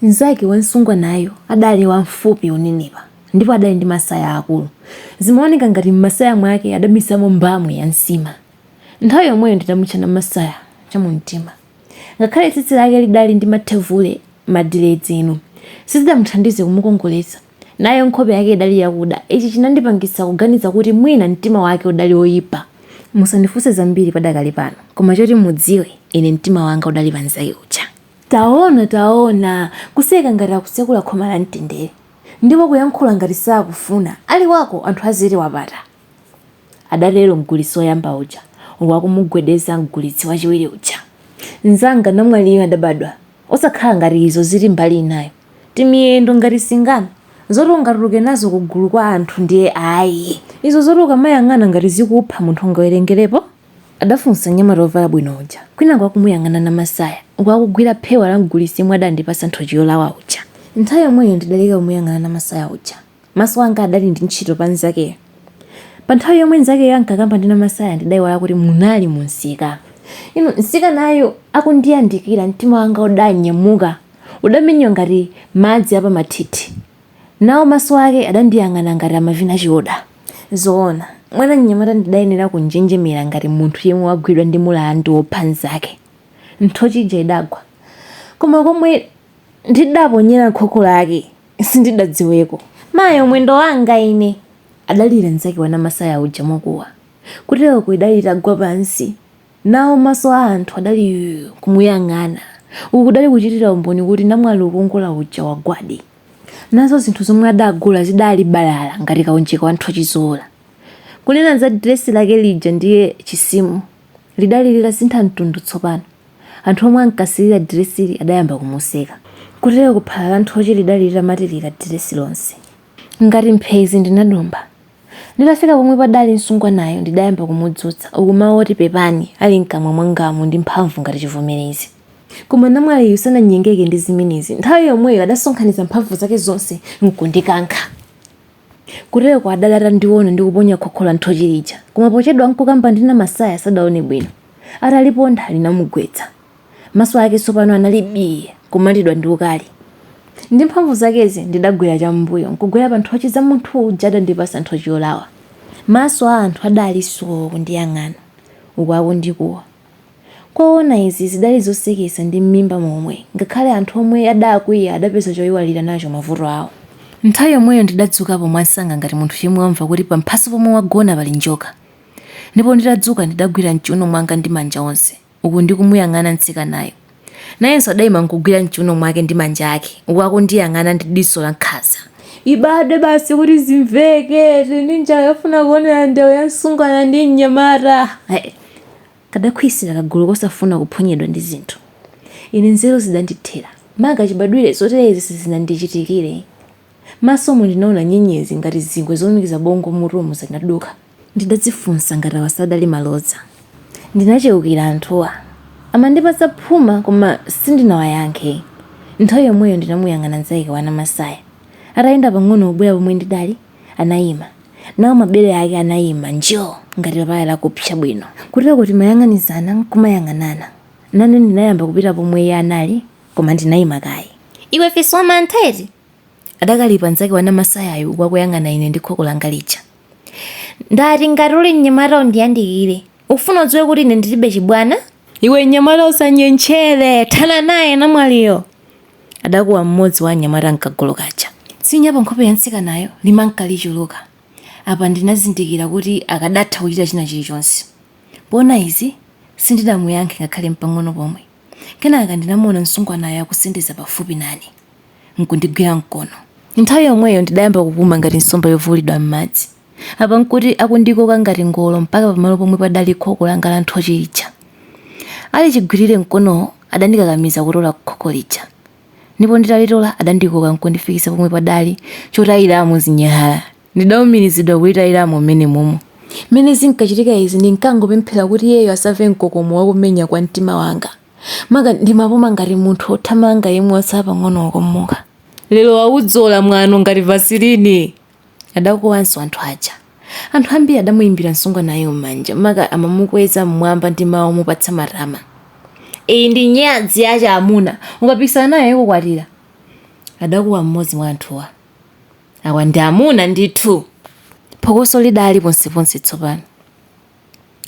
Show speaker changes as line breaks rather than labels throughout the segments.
Mnzake wa msungwanayo adali wamfupi wonenepa ndipo adali ndi masaya aakulu. Zimaoneka ngati m'masaya mwake adabisamo mbamu ya nsima. Nthawi yomweyo ndidamutcha Namasaya chamumtima. Ngakhale tsitsi lake lidali ndi mathevule, madiledzi, inu, sizidamuthandize kumukongoletsa. Nayo nkhope yake idali yakuda. Ichi chinandipangitsa kuganiza kuti mwina mtima wake udali woipa. Musandifunse zambiri padakalipano, koma choti mudziwe, ine mtima wanga udali pa mnzake uja. Taona, taona! Kuseka ngati akutsekula khomo la mtendere, ndipo kuyankhula ngati sakufuna ali wako anthu aziti wapata, adatero mgulitsi woyamba uja uku akumugwedeza mgulitsi wachiwiri uja. Mnzanga, namwaliyu adabadwa osakhala ngati izo zili mbali inayo, timiyendo ngati singano, zoti ungatuluke nazo kugulu kwa anthu ndiye ayi. Izo zoti ukamayang'ana ngati zikupha munthu ungawerengerepo? adafunsa mnyamata wovala bwino uja kwinaku akumuyang'ana Namasaya uku akugwira phewa la mgulitsi yemwe adandipatsa nthochi yolawa uja. Nthawi yomweyo ndidaleka kumuyang'ana Namasaya uja. Maso anga adali ndi ntchito pa mnzakeyo. Panthawi yomwe mnzakeyo ankakamba ndi Namasaya ndidaiwala kuti munali mumsika. Inu, mtsikanayu akundiyandikira, mtima wanga udanyamuka. Udamenyewa ngati madzi a pamathithi. Nawo maso ake adandiyang'ana ngati amavina chioda. Zoona, mwana mnyamata ndidayenera kunjenjemera ngati munthu yemwe wagwidwa ndi mulandu wopha mnzake. Nthochi ija idagwa. Koma komwe ndidaponyera khokho lake sindidadziweko. Mayo, mwendo wanga ine! adalira mnzake wa Namasaya uja mokuwa. Kuteroko adali atagwa pansi. nawo maso a anthu adali kumuyang'ana. Uku kudali kuchitira umboni kuti namwali wokongola uja wagwadi. Nazo zinthu zomwe adagula zidali balala ngati kaunjika wa nthochi zoola. Kunena za diresi lake lija ndiye chisimu lidali litasintha mtundu tsopano. Anthu omwe ankasirira diresili adayamba kumuseka. Kuteroko phala la nthochi lidali litamatirira diresi lonse. Ngati mphezi ndinadumpha. Nditafika pomwe padali msungwanayo ndidayamba kumudzutsa, uku mawu oti pepani ali mkamwa mwangamu ndi mphamvu ngati chivomerezi. Koma namwaliyu sananyengeke ndi zimenezi. Nthawi yomweyo adasonkhanitsa mphamvu zake zonse n'kundikankha. Kuteroko adali atandiona ndikuponya khokho la nthochi lija, koma pochedwa n'kukamba ndi Namasaya sadaone bwino. Ataliponda linamugwetsa. Maso ake tsopano anali bii, kulumatidwa ndi ukali. Ndi mphamvu zakezi, ndidagwera cham'mbuyo nkugwera panthochi za munthu uja adandipatsa nthochi yolawa. Maso a anthu adali soo kundiyang'ana, uku akundikuwa. Zoona izi zidali zoseketsa ndi m'mimba momwe, ngakhale anthu omwe adakwiya adapeza choiwalira nacho mavuto awo. Nthawi yomweyo ndidadzukapo mwansanga ngati munthu yemwe wamva kuti pamphasa pomwe wagona pali njoka, ndipo nditadzuka ndidagwira m'chiuno mwanga ndi manja onse. uku ndi kumuyang'ana mtsikanayo. Nayenso adaima nkugwira m'chiuno mwake ndi manja ake, uku akundiyang'ana ndi diso la nkhanza. Ibadwe basi kuti zimveke! Tili ndi njala yofuna kuonera ndewu ya msungwana ndi mnyamata! Heh! Kadakhwizira kagulu kosafuna kuphonyedwa ndi zinthu. Ine nzeru zidandithera. Maka chibadwire zoterezi sizinandichitikire. M'masomu ndinaona nyenyezi ngati zingwe zolumikiza bongo m'mutumu zinaduka. Ndidadzifunsa ngati awa sadali malodza. Ndinacheukira anthuwa. Amandipatsa phuma koma sindinawayankhe. Nthawi yomweyo ndinamuyang'ana mnzake wa Namasaya. Atayenda pang'ono kubwera pomwe ndidali, anaima. Nawo mabere ake anaima njo! ngati papaya lakupsa bwino. Kuteroko timayang'anizana n'kumayang'anana. Nane ndinayamba kupita pomwe iye anali. Koma ndinaima kaye. Iwe fisi wamantha eti? Adakalipa mnzake wa Namasayayo uku akuyang'ana ine ndi khoko langa lija. Ndati ngati uli mnyamata undiyandikire. Ufuna udziwe kuti ine ndilibe chibwana? Iwe mnyamata usanyentchere! Thana naye namwaliyo! Adakuwa mmodzi wa anyamata a m'kagulu kaja. Tsinya pankhope ya mtsikanayo limanka lichuluka. Apa ndinazindikira kuti akadatha kuchita china chilichonse. Poona izi, sindidamuyankhe ngakhale mpang'ono pomwe. Kenaka ndinamuona msungwanayo akusendeza pafupi nane, n'kundigwira mkono. Nthawi yomweyo ndidayamba kupuma ngati nsomba yovuulidwa m'madzi. Apa n'kuti akundikoka ngati ngolo mpaka pamalo pomwe padali khoko langa la nthochi lija. Ali chigwirire mkonowo, adandikakamiza kutola khoko lija, ndipo nditalitola adandikoka n'kundifikitsa pomwe padali chotayiramo zinyalala. Ndidaumirizidwa kutayiramo m'menemomo. M'mene zinkachitika izi, ndinkangopemphera kuti iyeyo asamve mkokomo wa kumenya kwa mtima wanga. Maka ndimapuma ngati munthu wothamanga yemwe watsala pang'ono kukomoka. Lero waudzola mwano ngati Vasilini! Adakuwanso anthu aja. Anthu ambiri adamuimbira msungwanayo m'manja, maka amamukweza m'mwamba ndi mawu omupatsa matama. Iyi ndi nyadzi ya achiamuna! Ukapikisana nayo ikukwatira! Adakuwa mmodzi mwa anthuwa. Awa ndi amuna ndithu. Phokoso lidali ponseponse tsopano.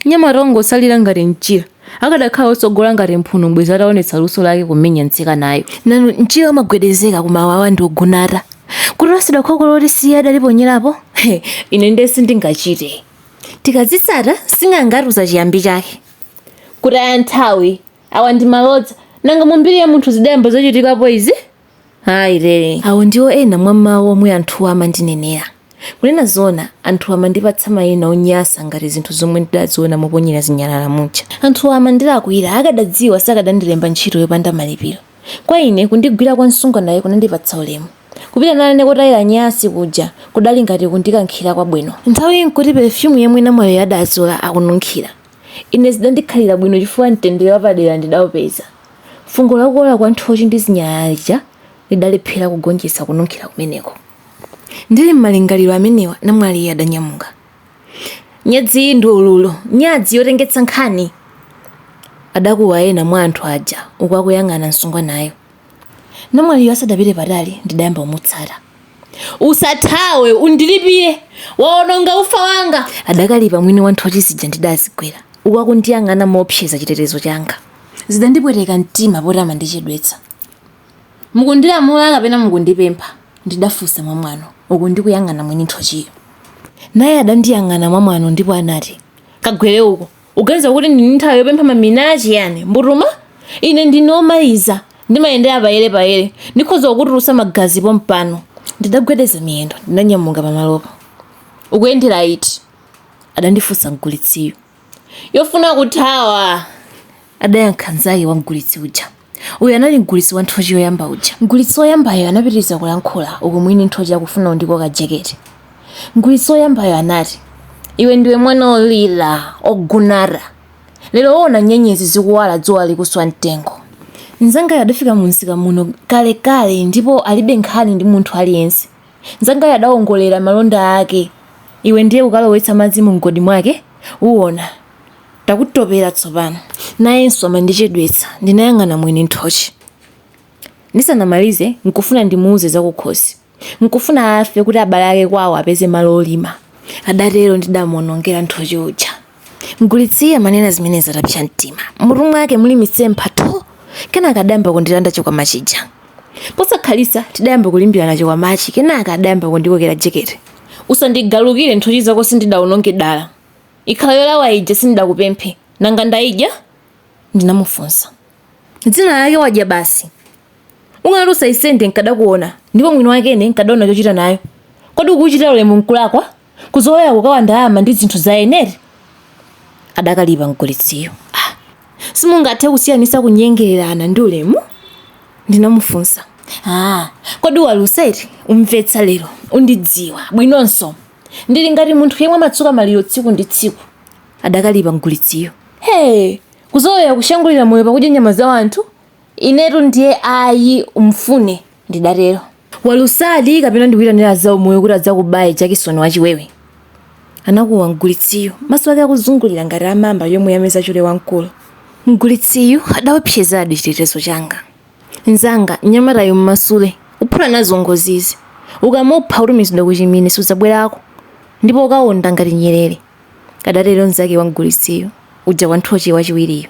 Mnyamata wongotsalira ngati mchira. Akadakhala wotsogola ngati mphuno bwezi atawonetsa luso lake kumenya mtsikanayu. Nanu, mchira umagwedezeka koma awawa ndi ogunata. Kutoletsedwa khoko loti si iye adaliponyerapo? He, ine ndiye sindingachite. Tikadzitsata, sing'anga atiuza chiyambi chake. Kutaya nthawi. Awa ndi malodza. Nanga mu mbiri ya munthu zidayamba zachitikapo izi? Ayi ree. Awo ndiwo ena mwa mawu omwe anthuwa amandinenera. Kunena zoona, anthuwa amandipatsa mayina onyasa ngati zinthu zomwe ndidaziona moponyera zinyalala muja. Anthuwa amandilakwira, akadadziwa sakadandilemba ntchito yopanda malipiro. Kwa ine, kundigwira kwa msungwanayu kunandipatsa ulemu. Kupita nane kotayira nyansi kuja kudali ngati kundikankhira kwabwino. Nthawiyi n'kuti perefyumu yemwe namwaliyo adadzola akununkhira. Ine zidandikhalira bwino chifukwa mtendere wapadera ndidaupeza. Fungo la kuola kwa nthochi ndi zinyalala lidalephera kugonjetsa kununkhira kumeneko. Ndili m'malingaliro amenewa, namwaliyo adanyamuka. Nyadzi iyi ndi ululu, nyadzi yotengetsa nkhani! adakuwa ena mwa anthu aja uku akuyang'ana msungwanayo. Namwaliyo asadapite patali, ndidayamba kumutsata. usathawe undilipire waononga ufa wanga adakalipa mwini wa nthochi zija ndidazigwera uku akundiyang'ana moopseza chitetezo changa zidandipweteka mtima poti amandichedwetsa mukundilamula kapena mukundipempha ndidafunsa mwamwano uku ndikuyang'ana mwini nthochiyo naye adandiyang'ana mwamwano ndipo anati kagwere uko uganiza kuti ndili ndi nthawi yopempha mamina a chiyani mbutuma ine ndine omaliza ndimayendera payere payere ndikhoza kukutulutsa magazi pompano ndidagwedeza miyendo ndinanyamuka pamalopo ukuyendera iti adandifunsa mgulitsiyo yofuna kuthawa adayankha nzake wa mgulitsi uja Uyu anali mgulitsi wa nthochi woyamba uja. Mgulitsi woyambayo anapitiriza kulankhula uku mwini nthochi akufuna kundikoka jaketi. Mgulitsi woyambayo anati, Iwe ndiwe mwana olira, ogunara. Lero uona nyenyezi zikuwala dzuwa likuswa mtengo. Mnzangayo adafika mumsika muno kalekale ndipo alibe nkhani ndi munthu aliyense. Mnzangayo adawongolera malonda ake. Iwe ndiye kukalowetsa madzi mumgodi mwake, uona. Takutopera tsopano. Nayenso amandichedwetsa, ndinayang'ana mwini nthochi. Ndisanamalize, nkufuna ndimuuze zakukhosi. Nkufuna afe kuti abale ake kwawo apeze malo olima, adatero ndidamuonongera nthochi uja. Mgulitsiyi amanena zimenezi atapsa mtima. M'mutu mwake muli mitsempha tho! Kenaka adayamba kundilanda chikwama chija. Posakhalitsa, tidayamba kulimbirana chikwamachi kenaka adayamba kundikokera jaketi. Usandigalukire, nthochi zako sindidaononge dala. Ikhala yolawa ija sindidakupemphe nanga ndaidya? ndinamufunsa. Zina lake wadya basi. Ukanati usayisende nkadakuona ndipo mwini wake ine nkadaona chochita nayo. Kodi kukuchitira ulemu nkulakwa? Kuzolowera kukawa ndalama ndi zinthu za eni eti? adakalipa mgulitsiyo. Ah! Simungathe kusiyanitsa kunyengererana ndi ulemu? ndinamufunsa. Ah! Kodi walusa eti? Umvetsa lero. Undidziwa bwinonso. Ndili ngati munthu yemwe amatsuka maliro tsiku ndi tsiku. Adakalipa mgulitsiyo. Hee! Kuzolowera kushangulira moyo pakudya nyama za wanthu? Inetu ndiye ayi mfune ndidatero. Walusadi kapena ndikuitanire azaumoyo kuti adzakubaye jakisoni wa chiwewe? Anakuwa mgulitsiyo, maso ake akuzungulira ngati a mamba yomwe yameza chule wamkulu. Mgulitsiyu adaopsezadi chitetezo changa. Nzanga, mnyamatayu mmasule. Uphula nazo ngozi izi. Ukamupha utumizidwa kuchimine sudzabwerako ndipo ukawonda ngati nyerere, adatero nzake wa mgulitsiyo uja wa nthochi wachiwiriyo.